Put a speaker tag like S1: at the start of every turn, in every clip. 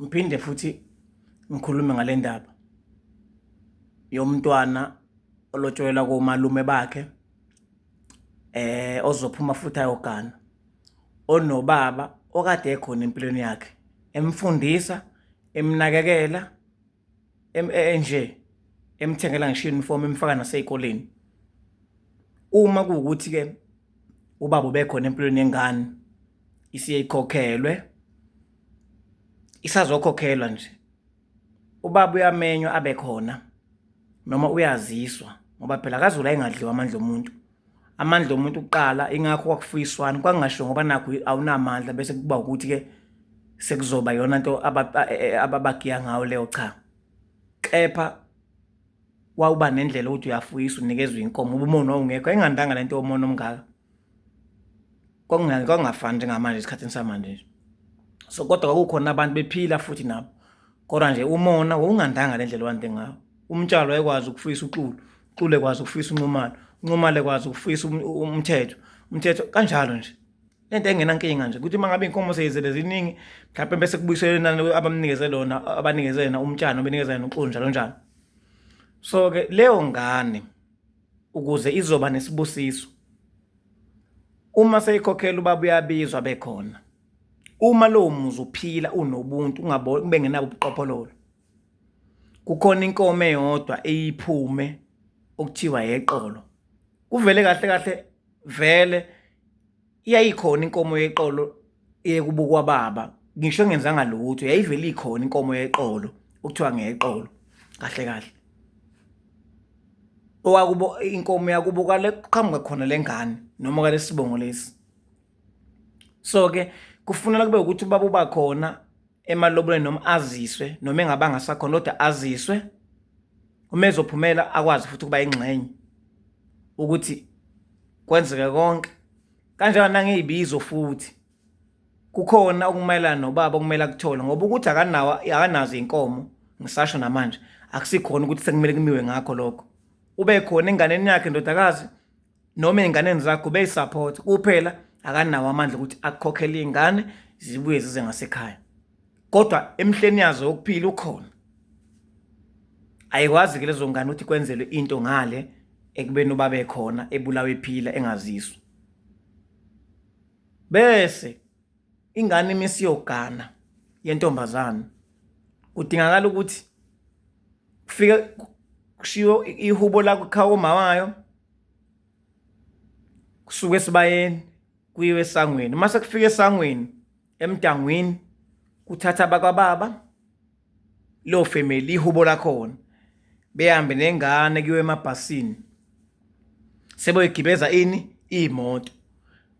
S1: ngiphinde futhi ngikhulume ngale ndaba yomntwana olotsholelwa komalume bakhe eh ozophuma futhi ayogana onobaba okade ekhona empilweni yakhe emfundisa emnakekela enje emthengela ngisho uniform emfaka nasey'koleni uma kuwukuthi-ke ubaba ubekhona empilweni yengane isiyeyikhokhelwe isazokhokhelwa nje ubaba uyamenywa abe khona noma uyaziswa ngoba phela kazula engadliwa amandla omuntu amandla omuntu kuqala ingakho kwakufuyiswani kwangasho ngoba nakho awunamandla bese kuba ukuthi ke sekuzoba yona into e, e, ababagiya ngayo leyo cha kepha wawuba nendlela ukuthi uyafuyisa unikezwe inkomo uba umona wawungekho engandanga lento yomona omngaka kwakungani kwakungafani njengamanje esikhathini samanje nje so kodwa kwakukhona abantu bephila futhi nabo kodwa nje umona wawungandanga le ndlela wande ngawo umtshalo wayekwazi ukufisa uxulu uxulu ekwazi ukufisa unxumalo unxumalo ekwazi ukufisa um, um, umthetho umthetho kanjalo nje le nto engenankinga nje ukuthi uma ngabe iy'nkomo seyizele ziningi mhlawumpe bese kubuyiselwe inani abamnikeze lona abanikeze yena umtshana obenikeza yena uxulu njalo njalo so-ke leyo ngane ukuze izoba nesibusiso uma seyikhokhela ubaba uyabizwa bekhona uma lowo muzi uphila unobuntu ube ngenabo ubuqophololo kukhona inkomo eyodwa eyiphume okuthiwa yeqolo kuvele kahle kahle vele yayikhona inkomo yeqolo eyekubukwa baba ngisho engenzanga lutho yayivele ikhona inkomo yeqolo okuthiwa ngeyeqolo kahle kahle owakubo inkomo yakubo kale kuqhamuka khona lengane noma kale sibongo lesi so ke kufunela kube ukuthi ubaba uba khona emalobolweni noma aziswe noma engabanga sakhona kodwa aziswe uma ezophumela akwazi futhi ukuba ingxenye ukuthi kwenzeke konke kanjalo nangeyibizo futhi kukhona okumayelana nobaba okumele akuthole ngoba ukuthi akanawo akanazo inkomo ngisasho namanje akusikhona ukuthi sekumele kumiwe ngakho lokho ube khona enganeni yakhe ndodakazi noma ezinganeni zakho ube support kuphela akanawo amandla ukuthi akukhokhele izingane zibuye zize ngasekhaya kodwa emhleni yazo yokuphila ukhona ayikwazi ke lezo ngane ukuthi kwenzelwe into ngale ekubeni ubabe khona ebulawe ephila engaziswa bese ingane uma isiyogana yentombazane kudingakala ukuthi kufike kushiwo ihubo la kukhawa umama wayo kusuke esibayeni kuyiwe esangweni uma sekufika esangweni emdangwini kuthatha abakwababa lo family ihubo lakhona behambe nengane kuyo emabhasini seboyigibeza ini iyimoto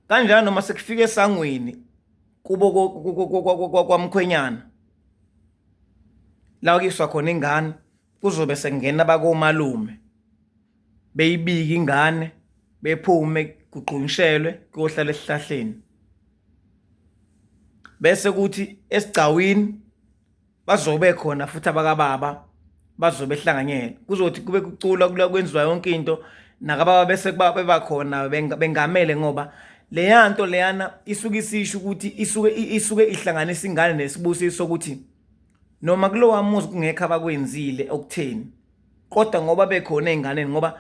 S1: kanjalo noma sekufika esangweni kubo kwamkhwenyana la kuyiswa khona ingane kuzobe sekungena bakomalume beyibike ingane bephume kugqunyishelwe kuyohlala esihlahleni bese kuthi esigcawini bazobe khona futhi abakababa bazobe ehlanganyela kuzothi kube kucula kula kwenziwa yonke into nakababa bese kuba bebakhona bengamele ngoba leya nto leyana isuke isisho ukuthi isuke isuke ihlanganisa ingane nesibusiso sokuthi noma kulowa muzi kungekho abakwenzile okutheni kodwa ngoba bekhona ezinganeni ngoba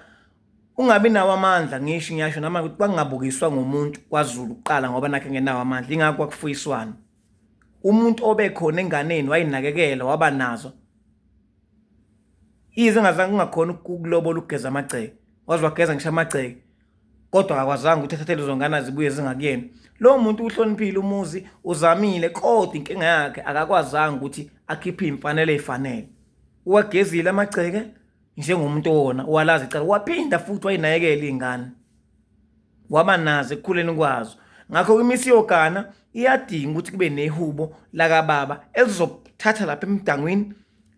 S1: ungabi nawo amandla ngisho ngiyasho nama ukuthi kwangabukiswa ngomuntu kwaZulu kuqala ngoba nakhe ngenawo amandla ingakho kwakufuyiswana umuntu obekhona enganeni wayinakekela waba nazo ize ngazange kungakhona ukulobola ukugeza amagceke waze wageza ngisho amagceke kodwa akakwazanga ukuthi athathe lezo ngane azibuye zingakuyena lowo muntu uhloniphile umuzi uzamile kodwa inkinga yakhe akakwazanga ukuthi akhiphe iy'mfanele ey'fanele uwagezile amagceke njengomuntu owona walazi icala waphinda futhi wayinakekela iy'ngane waba nazo ekukhuleni kwazo ngakho kwimisi yogana iyadinga ukuthi kube nehubo lakababa elizokuthatha lapha emdangwini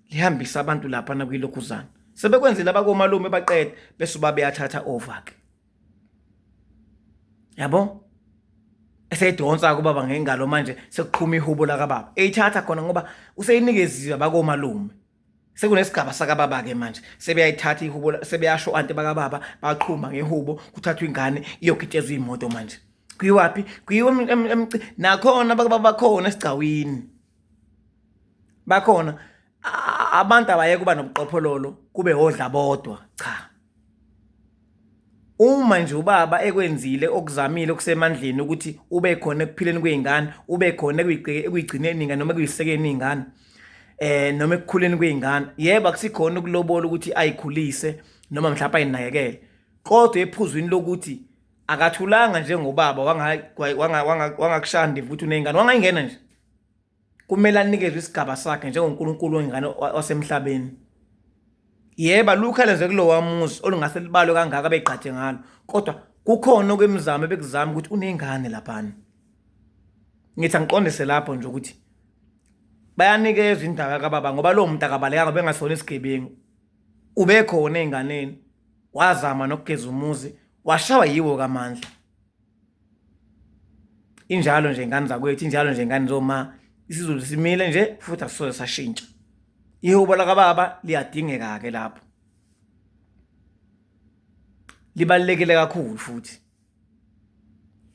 S1: lihambise abantu lapha nakwilokhuzana sebekwenzile abakomalume baqede bese uba beyathatha over-ke yabo eseyidonsa kubaba ngengalo manje sekuqhuma ihubo lakababa eyithatha khona ngoba useyinikeziwe bakomalume sekunesigaba sakababa-ke manje sebeyayithatha ihubo sebeyasho ante bakababa baqhuma ngehubo kuthathwa ingane iyogitshezwa iyimoto manje kuyiwaphi kuyiwe nakhona bakababa bakhona esigcawini bakhona abantu abayeke uba nobuqophololo kube odla bodwa cha Uma nje ubaba ekwenzile okuzamile okusemandleni ukuthi ube khona ekuphileni kwey'ngane ube khona ekuyigcineni ingane noma ekuyisekeni iy'ngane eh noma ekukhuleni kwey'ngane yebo akusikhona ukulobola ukuthi ayikhulise noma mhlawumbe ayinakekele kodwa ephuzwini lokuthi akathulanga njengobaba wangakushanda futhi uney'ngane wangayingena nje Kumele anikezwe isigaba sakhe njengoNkulunkulu wengane wasemhlabeni. Yebo, alukho elenze kulowa muzi olungase libalwe kangaka begqaje ngalo, kodwa kukhona okwemizamo ebekuzama ukuthi unengane laphana. Ngithi angiqondise lapho nje ukuthi bayanikezwa indawo yakababa ngoba lowo muntu akabalekanga bengasona isigebengu. Ubekhona ezinganeni, wazama nokugeza umuzi, washawa yiwo kaMandla. injalo nje ngane zakwethu injalo nje ngane zoma isizulu simile nje futhi asisoze sashintsha ihubo lakababa liyadingeka ke lapho libalekele kakhulu futhi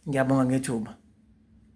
S1: ngiyabonga ngethuba